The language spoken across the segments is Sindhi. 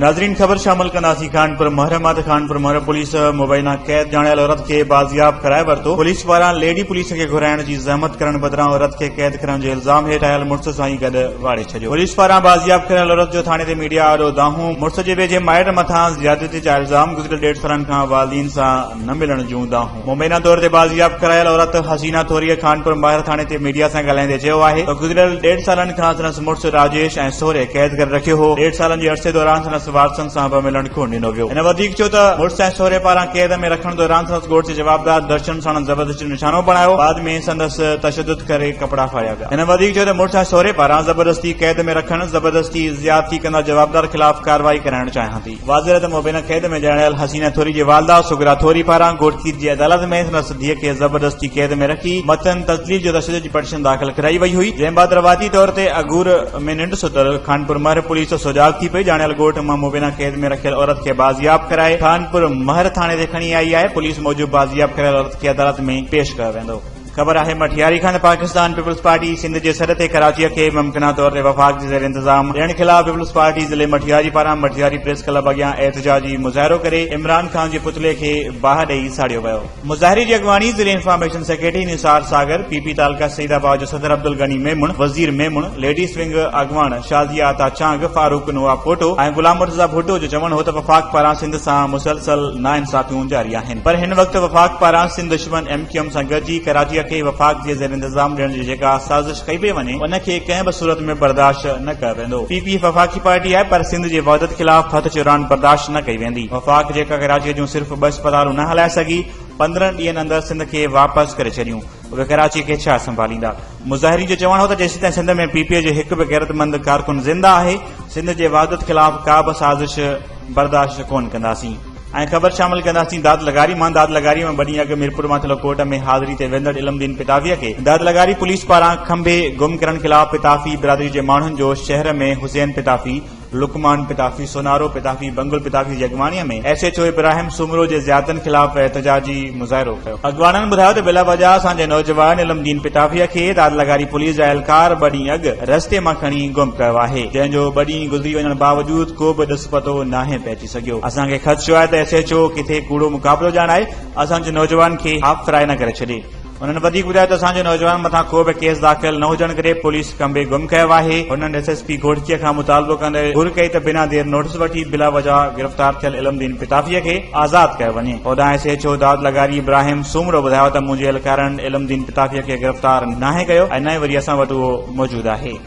ناظرين خبر شامل ڪنداسين خانپور مهر مان ته خانپور مهر پوليس مبينا قيد ڄاڻايل عورت کي بازياب ڪرائي ورتو پوليس واران ليڊي پوليس کي گهرائڻ جي زحمت ڪرڻ بدران عورت کي قيد ڪرڻ جي الزام هيٺ آيل مڙس سان ئي گڏ واڙي ڇڏيو پوليس واران بازياب ڪريل عورت جو ٿاڻي تي ميڊيا آڏو دانهون مڙس جي ويجهي مائٽ مٿان زيادتي جا الزام گذريل ڏيڍ سالن کان والدين سان نه ملڻ جون دانهون مبينا طور تي بازياب ڪرايل عورت حسينه ٿوريء خانپور ماهر ٿاڻي تي ميڊيا سان ڳالهائيندي چيو آهي ته گذريل ڏيڍ سالن کان سندس مڙس راجيش ۽ سهري قيد ڪري رکيو هو ڏيڍ سالن جي عرصي دوران سندس وارثن سان به ملڻ ڪونه ڏنو ويو هن وڌيڪ چيو ته مڙس ۽ سهري پاران قيد ۾ رکڻ دوران سندس ڳوٺ جي جوابدار درشن ساڻن زبردستي جو نشانو بڻايو بعد ۾ سندس تشدد ڪري ڪپڙا ڦاڙيا ويا هن وڌيڪ چيو ته مڙس ۽ سهري پاران زبردستي قيد ۾ رکڻ زبردستي زيادتي ڪندڙ جوابدار خلاف ڪارروائي ڪرائڻ چاهيان ٿي واضح رهي ته مبينا قيد ۾ ڄاڻايل حسينه ٿوري جي والده سغرا ٿوري پاران گهوٽڪير جي عدالت ۾ سندس ڌيء کي زبردستي قيد ۾ رکي مٿن تذليل جو تشدد جي پٽيشن داخل ڪرائي وئي هئي جنهن بعد رواتي طور تي اگهور ۾ ننڊ ستل خانپور مهر پوليس سجاڳ ٿي پئي ڄاڻايل ڳوٺ مان مبينا قيد ۾ رکيل عورت کي بازياب ڪرائي خانپور مهر ٿاڻي تي کڻي آئي آهي پوليس موجب بازياب ڪريل عورت کي عدالت ۾ پيش ڪيو ويندو خبر آهي مٺياري کان ته پاڪستان پيپلز پارٽي سنڌ جي سڏ تي ڪراچيء کي ممڪنه طور تي وفاق جي زير انتظام ڏيڻ خلاف پيپلز پارٽي ضلعي مٺياري پاران مٺياري پريس ڪلب اڳيان احتجاجي مظاهرو ڪري عمران خان جي پتلي کي باهه ڏئي ساڙيو ويو مظاهري جي اڳواڻي ضلعي information secretary Nisar Sagar P P تعلقه سعيد آباد جو صدر عبدالغني ميمڻ وزير ميمڻ ليڊيز ونگ اڳواڻ شازيه عطا چانگ فاروق نواب پوٽو ۽ غلام مرتضيٰ ڀٽو جو چوڻ هو ته وفاق پاران سنڌ سان مسلسل ناانصافيون جاري آهن پر هن وقت وفاق پاران سنڌ دشمن ايم ڪيو ايم سان گڏجي ڪراچيء کي وفاق جي زير انتظام ڏيڻ جي جيڪا سازش ڪئي پئي وڃي ان کي ڪنهن به صورت ۾ برداشت نه ڪيو ويندو. پي پي ايف وفاقي پارٽي آهي پر سنڌ جي وحدت خلاف هٿ چراڻ برداشت نه ڪئي ويندي. وفاق جيڪا ڪراچيء جون صرف ٻه اسپتالون نه هلائي سگهي پندرهن ڏينهن اندر سنڌ کي واپس ڪري ڇڏيون اهي ڪراچيء کي ڇا سنڀاليندا. مظاهرين جو چوڻ هو ته جيسيتائين سنڌ ۾ پي پي اي جو هڪ به غيرتمند ڪارڪن زنده آهي سنڌ جي وحدت خلاف ڪا به سازش برداشت ڪونه ڪنداسين. ۽ خبر شامل ڪنداسين داد لغاري مان داد لغاري ۾ ٻه ڏينهن اڳ ميرپور مان ٿلهو ڪورٽ ۾ حاضري تي ويندڙ علم دين پتافي کي داد لغاري پوليس پاران کنڀي گم ڪرڻ خلاف پتافي برادري جي ماڻهن جو شهر ۾ حسين پتافي لقمان پتافي سونارو پتافي بنگل پتافي جي اڳواڻي ۾ S H O Ibrahim Soomro جي زيارتن خلاف احتجاجي مظاهرو ڪيو اڳواڻن ٻڌايو ته بلا وجه اسان جي نوجوان علم دين پتافي کي داد لغاري پوليس جا اهلڪار ٻه ڏينهن اڳ رستي مان کڻي گم ڪيو آهي جنهن جو ٻه ڏينهن گذري وڃڻ باوجود ڪو به ڏس پتو ناهي پئجي سگهيو اسان کي خدشو آهي ته ايس ايڇ او ڪٿي ڪوڙو مقابلو ڄاڻائي اسان جي نوجوان کي هاف فرائي نه ڪري ڇڏي هنن وڌيڪ ٻڌايو ته اسان جي نوجوانن مٿان ڪو به ڪيس داخل نه هجڻ ڪري پوليس کنڀي گم ڪيو آهي هنن ايس ايس پي گهوٽڪي کان مطالبو ڪندي گهر ڪئي ته بنا دير نوٽيس وٺي بلا وجهه گرفتار ٿيل علم دين پتافي کي آزاد ڪيو وڃي هوڏانهن ايس ايڇ او داد لغاري ابراهيم سومرو ٻڌايو ته منهنجي اهلڪارن علم دين پتافي کي گرفتار ناهي ڪيو ۽ نه ئي وري اسان وٽ اهو موجود آهي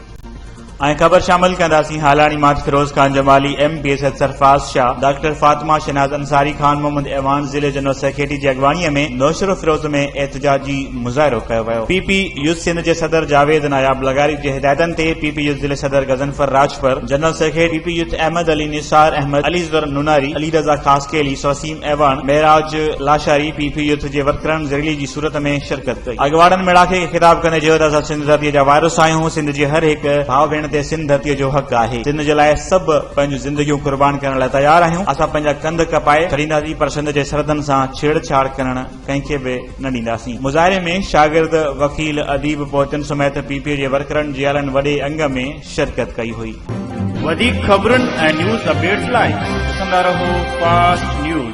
۽ خبر شامل ڪنداسين هالاڻي ماٺ Feroz Khan Jamali M P Syed Sarfraz Shah doctor Fatima Shahnaz Ansari Khan Muhammad ايوان ضلعي جنرل سيڪريٽري جي اڳواڻي ۾ نوشهرو فيروز ۾ احتجاجي مظاهرو ڪيو ويو پي پي يوٿ سنڌ جي صدر جاويد ناياب لغاري جي هدايتن تي پي پي يوٿ ضلعي صدر Ghazanfar Rajpar general secretary P P youth Ahmed Ali Nisar Ahmed Ali ذر نوناري علي رضا خاصخيلي سوسيم ايوان معراج لاشاري پ پ يوٿ جي ورڪرن زريلي جي صورت ۾ شرڪت ڪئي اڳواڻن ميڙاڪي کي خطاب ڪندي چيو ته اسان سنڌ ڌرتي جا وارث آهيون سنڌ جي هر هڪ ڀاء ڀيڻ تي سنڌ ڌرتي جو حق آهي سنڌ جي لاء سڀ پنهنجون زندگيون قربان ڪرڻ لاء تيار آهيون اسان پنهنجا ڪنڌ ڪپائي ڇڏينداسين پر سنڌ جي سرحدن سان ڇيڙ ڇاڙ ڪرڻ ڪنهن کي به نه ڏينداسين مظاهري ۾ شاگرد وڪيل اديب پوئتن سميت پ پ جي ورڪرن جيالن وڏي انگ ۾ شرڪت ڪئي هئي. وڌيڪ خبرن ۽ نيوز اپڊيٽس لاء ڏسندا رهو فاسٽ نيوز.